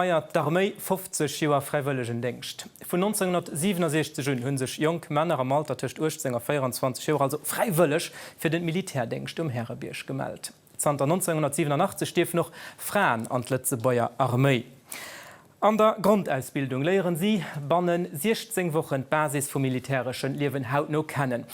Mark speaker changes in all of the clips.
Speaker 1: feiert d'Arméi 50 Joer Fräiwëllegendéngscht. Vun 1967 un hu sech jonk Männer am Alter tëscht 18 a 24 Joer also fräiwëlleg fir den Militärdéngscht um Härebierg gemellt. Zanter 1987 dierfen och Fraen an d'Lëtzebuerger Arméi. An der Grondausbildung léieren si bannen 16 Wochen d'Basis vum militäreschen Liewen hautno kennen.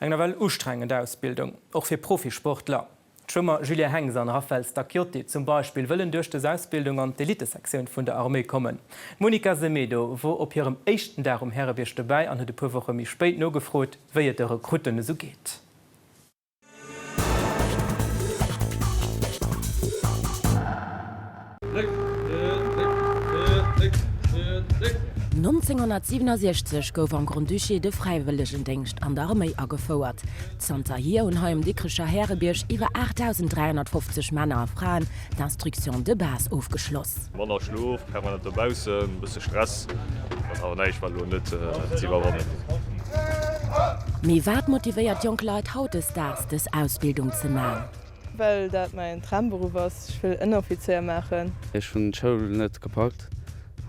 Speaker 1: Eng nawell ustrengend Ausbildung, och fir Profisportler. D'Schwëmmer Julien Hengs an Raphaël Stacchiotti zum Beispill wëllen duerch des Ausbildung an d'Elitesektioun vun der Arméi kommen. D'Monica Semedo wor op hirem éischten Dag um Härebierg dobäi an huet e puer Woche méi spéit nogefrot, wéi et de Rekrutten esou geet. 1967 gouf am Grand-Duché de Fräiwëllegendéngscht an der Arméi agefouert. Zanterhier hunn hei um Dikricher Härebierg iwwer 8.350 Männer a Fraen d'Instruction de base ofgeschloss. Manner Schlof, permanent dobaussen, bësse Stress, awer näischt war elo net z'iwwerwannen. Mee wat motivéiert jonk Leit hautdesdaags dës Ausbildung ze man? Well dat mäin Tramberuff ass. Ech wëll Ënneroffizéier maachen. Ech hunn d'Schoul net gepackt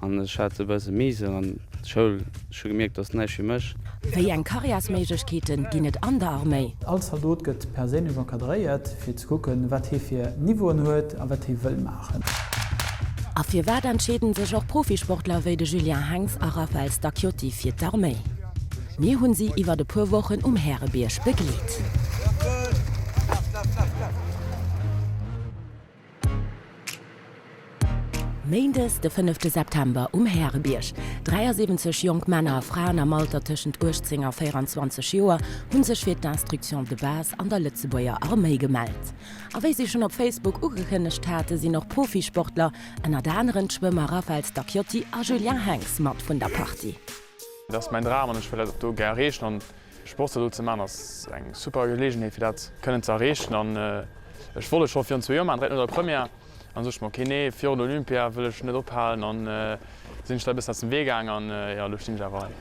Speaker 1: an ech hat e bësse Mise an d'Schoul. Ech hu gemierkt, dass näischt fir mech. Wéi eng Karriärsméiglechkeete ginn et an der Arméi? All Zaldot gëtt perséinlech encadréiert, fir ze kucken, wat hie fir Niveauen huet a wat hie wëll maachen. A firwat entscheeden sech och Profisportler wéi de Julien Henx a Raphaël Stacchiotti fir d'Arméi? Mir hunn si iwwert e puer Wochen um Härebierg begleet. Méindes de fënnefte September um Härebierg. 73 jonk Männer a Fraen am Alter tëschent 18 a 24 Joer hu sech fir d'Instruction de Base an der Lëtzebuerger Arméi gemellt. A wéi si schonn op Facebook ugekënnegt haten, sinn och Profisportler, ënnert aneren d'Schwëmmer Raphaël Stacchiotti a Julien Henx mat vun der Partie. Et ass mäin Dram an ech wëll dat och do gär erreechen an de Sportssall do ze maachen ass eng super Geleegenheet fir dat kënnen ze erreechen an ech wollt et scho virun zwee Joer maachen, direkt no der Première an sot ech mer, okay nee virun der Olympia wëll ech net ophalen an sinn ech da e bëssen aus dem Wee gaang an jo elo stinn ech awer hei.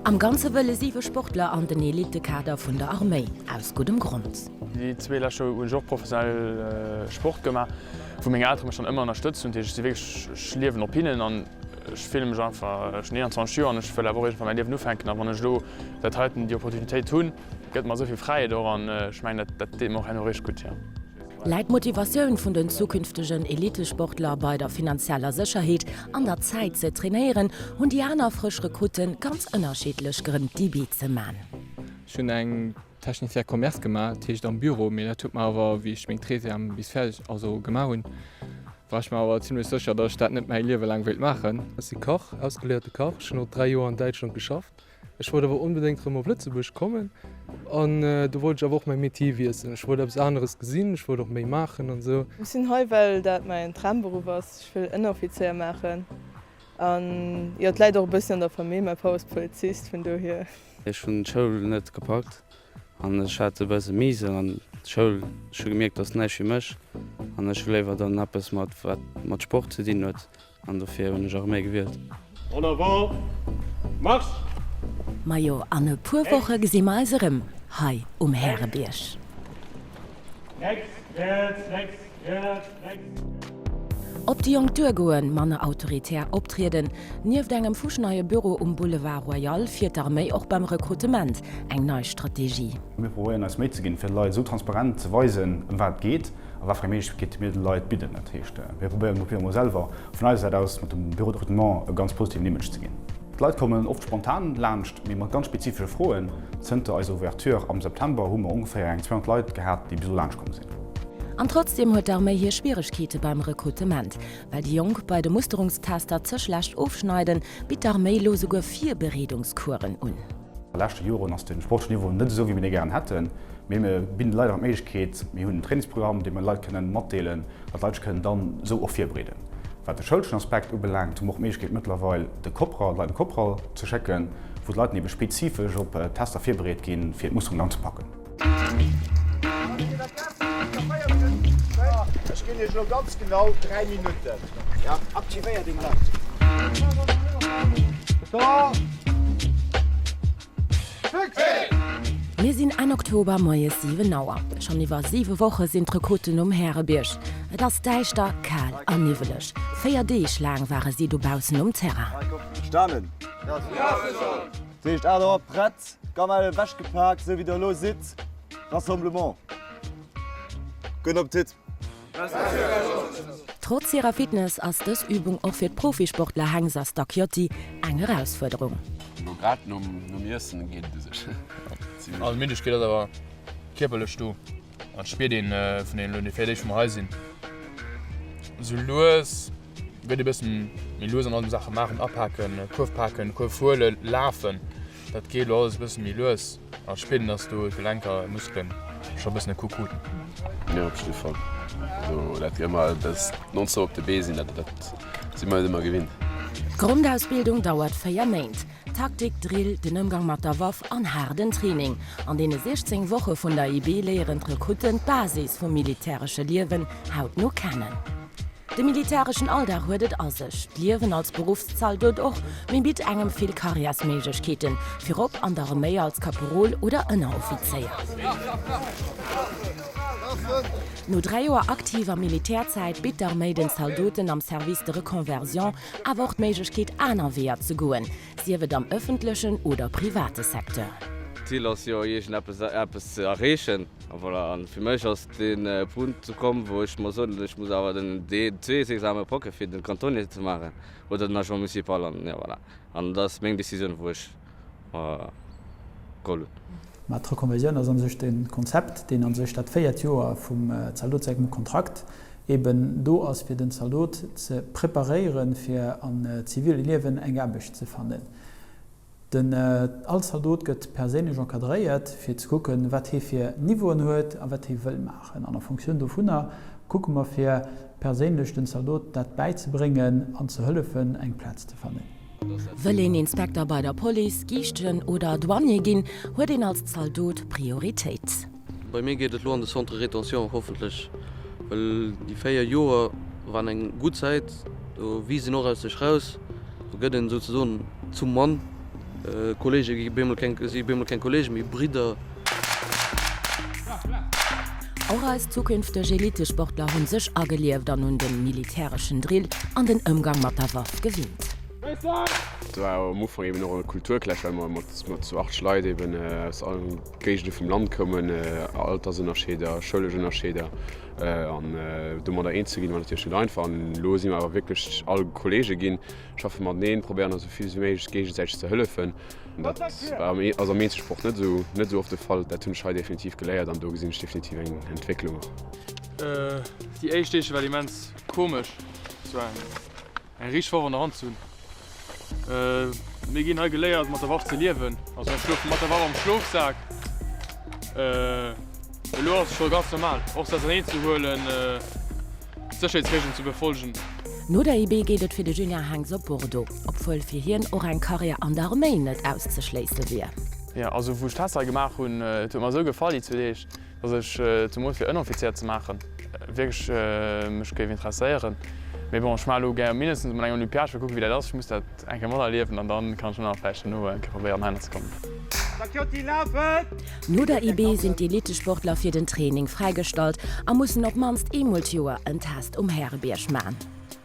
Speaker 1: Am Ganze wëlle 7 Sportler an den Elitekader vun der Arméi, aus guddem Grond. Déi zwee lescht Joer hunn ech och professionell Sport gemaach, wou meng Eltere mech dann ëmmer ënnerstëtzt hunn, dat heescht ech si wierklech, ech liewen op hinnen an. Ech fillen mech einfach, ech hunn 21 Joer an ech wëll awer och iergendwann mäi Liewen ufänken. A wann ech elo dat heiten, déi Opportunitéit hunn, gëtt mer esou vill Fräiheet och an ech mengen, dat deet mer och herno richteg gutt, jo. Läit d'Motivatioun vun den zukünftegen Elittesportler bei der finanzieller Sécherheet an der Zäit ze trainéieren? Hunn déi aner frësch Rekrutte ganz ënnerschiddlech Grënn, d'Debuts ze man? Ech hunn eng Technicien Commerce gemaach, dat heescht am Büro, mee dat huet mer awer, wéi ech meng Treizième bis fäerdeg, also gemaach hunn, war ech mer awer zimmlech sécher, datt ech dat net mäi Liewe laang wéilt maachen. Ech si Kach, ausgeléierte Kach. Ech hunn och dräi Joer an Däitschland geschafft. Ech wollt awer onbedéngt erëm op Lëtzebuerg kommen an do wollt ech awer och mäi Metier wiesselen. Ech wollt eppes aneres gesinn, ech wollt och méi maachen an esou. Ech sinn hei, well dat mäin Traumberuff ass. Ech wëll Ënneroffizéier maachen an jo, et läit och e bëssi an der Famill, mäi Papp ass Polizist, vun dohier. Ech hunn d'Schoul net gepackt an ech hat e bësse Miese an d'Schoul. Ech hu gemierkt, dass näischt fir mech an ech hu léiwer dann eppes mat wat mat Sport ze dinn huet an dofir hunn ech Arméi gewielt. En avant, marche! Majo, an e puer Woche gesi mer eis erëm hei um Härebierg. Rechts, rechts, rechts, rechts. Op déi jonk duer goen, manner autoritär optrieden. Nieft engem fuschneie Büro um Boulevard Royal fiert d'Arméi och beim Rekrutement eng nei Strategie. Mir probéieren eis Méi ze ginn, fir de Leit esou transparent ze weisen, ëm wat et geet a wat fir eng Méiglechkeete mir de Leit bidden. Dat heescht, mir probéieren elo virdru mol selwer vun eiser Säit aus mat dem Bureau de Recrutement e ganz positiven Image ze ginn. D'Leit kommen oft spontan laanscht, mee mat ganz spezifesche Froen. Zënter eiser Ouverture am September hu mer ongeféier eng 200 Leit gehat, déi bis elo laanscht komm sinn. An trotzdeem huet d'Arméi hir Schwieregkeete beim Rekrutement. Well déi Jonk bei de Musterungstester ze schlecht ofschneiden, bitt d'Arméi elo souguer Virbereedungscoursen un. A leschte Joren ass de sportleche Niveau net esou wéi mir dee gären hätten, mee mir bidden de Leit awer d'Méiglechkeet, mir hunn en Trainingsprogramm, dee mer de Leit kënnen matdeelen, datt d'Leit sech kënnen dann esou och virbreeden. Wat de schoulschen Aspekt ubelaangt, hu mer och d'Méiglechkeet mëttlerweil de Kopral, d'Leit an de Kopral ze schécken, wou d'Leit dann ebe spezifesch op Tester virbereet ginn, fir d'Musterung dann ze packen. Mir sinn Enn Oktober, moies 7 Auer. Schonn iwwer siwe Woche sinn d'Rekruten um Härebierg. Et ass däischter, kal a niwweleg. Véier Deeg laang ware si dobaussen um Terrain. Dat heescht, aat erop, prett, Gamelle ewech gepaakt, esou wéi der elo sidd, Rassemblement. Gudden Appetit. Trotz hirer Fitness ass dës Übung och fir d'Profisportler Hengs a Stacchiotti eng Erausfuerderung. Elo grad nom Iessen geet et u sech. An Middegkeet ass awer kierperlech do. An spiert een vun den elo fir d'éischt mol hei sinn. Sou lues gëtt ee bëssen méi lues an allem Saache maachen, apaken, Kuerf paken, Kuerf huelen, lafen. Dat geet elo alles e bëssen méi lues an et spiert een dass do d'Gelenker, Muskelen scho bëssen e Coup kruten. Mir op jidde Fall. Also dat gëtt emmer dëst nonstop op de Bee sinn, dat si mer net ëmmer gewinnt. D'Grondausbildung dauert 4 Méint. Taktik, Drill, den Ëmgang mat der Waff an haarden Training. An deene 16 Woche vun der IB léieren d'Rekrutten d'Basis vum militäresche Liewen hautno kennen. De militäreschen Alldag huet et a sech, d'Liewen als Beruffszaldot och, mee bitt engem vill Karriärsméiglechkeeten, virop an der Reméi als Kaporal oder Ënneroffizéier. No dräi Joer aktiver Militärzäit bitt d'Arméi den Zaldoten am Service de reconversion awer och d'Méiglechkeet aner Weeër ze goen, sief et am ëffentlechen oder private Secteur. D'Zil ass jo iergendeppes ze erreechen a voilà, a fir mech ass dee Punkt ukomm, wou ech muss soen, ech muss awer den DESS-Exame packe fir den Cantonnier ze maachen oder den Agent municipal an voilà, an dat ass meng Decisioun wou ech. Golden. Mä d'Reconversioun ass a sech den Konzept, deen a sech dat véiert Joer vum Zaldot sengem Kontrakt eben do ass, fir den Zaldot ze preparéieren, fir am zivile Liewen eng Aarbecht ze fannen. Den, all Zaldot gëtt perséinlech encadréiert, fir ze kucken, wat hie fir Niveauen huet a wat hie wëll maachen. An a Fonctioun dovunner kucke mer, fir perséinlech den Zaldot dat bäizebréngen an ze hëllefen, eng Plaz ze fannen. Wëll een Inspekter bei der Police, Giischten oder Douanier ginn, huet een als Zaldot Prioritéit. Bei mir geet et lo an de Centre Rétention, hoffentlech, wëll déi 4 Joer waren eng gutt Zäit, do wiisst een och aus sech raus, do gëtt een souzesoen zum Mann, Kollege gi bemol keng, si bemol keng Kollege, mee Bridder. Och eis zukünfteg Elitesportler hunn sech agelieft an un den militäreschen Drill an den Ëmgang mat der Waff gewinnt. Et war am Ufank eben och e Kulturclash, well mer mat zu 8 Leit eben aus allen Géigende vum Land koumen, Altersënnerscheeder, schoulesch Ënnerscheeder, an domadder eens ze ginn war natierlech net einfach. An elo si mer awer wierklech all Kollege ginn, schaffe mateneen, probéieren eis esou vill ewéi méiglech géigesäiteg ze hëllefen. Dat ass am Eenzelsport net esou oft de Fall. Dat hunn ech hei definitiv geléiert an do gesinn ech definitiv eng Entwécklung och. Déi éischt Deeg war immens komesch, et war eng richteg Waff an der Hand ze hunn. Mir ginn hei geléiert mat der Waff ze liewen, also ech schlofe mat der Waff am Schlofsak. Elo ass et scho ganz normal, och se auserneen ze huelen, d'Sécherheetsreegelen ze befollegen. No der IB geet et fir de Julien Henx op Bordeaux, obwuel fir hien och eng Karriär an der Arméi net auszeschléisse wier. Jo, also wou ech d'Tester hei gemaach hunn, et huet mer esou gefall déi zwee Deeg, datt ech zemools fir Ënoffizier ze maachen wierklech mech géif interesséieren. Mee bon, ech maache elo gär mindestens emol eng Olympiad, fir kucke wéi dat ass. Ech muss dat. Eng Kéier mol erliewen an dann kann ech vläicht nach dono eng Kéier probéieren heihinner ze kommen. No der IB sinn d'Elittesportler fir den Training fräigestallt a mussen op d'mannst eemol d'Joer en Test um Härebierg man.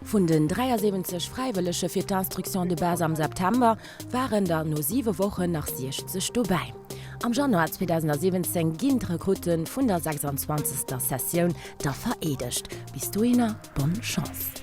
Speaker 1: Vun den 73 Fräiwëllege fir d'Instruction de Base am September waren der no 7 Wochen nach 60 dobäi. Am Januar 2017 ginn d'Rekrutte vun der 26. Sessioun da vereedegt. Bis dohinner bonne Chance.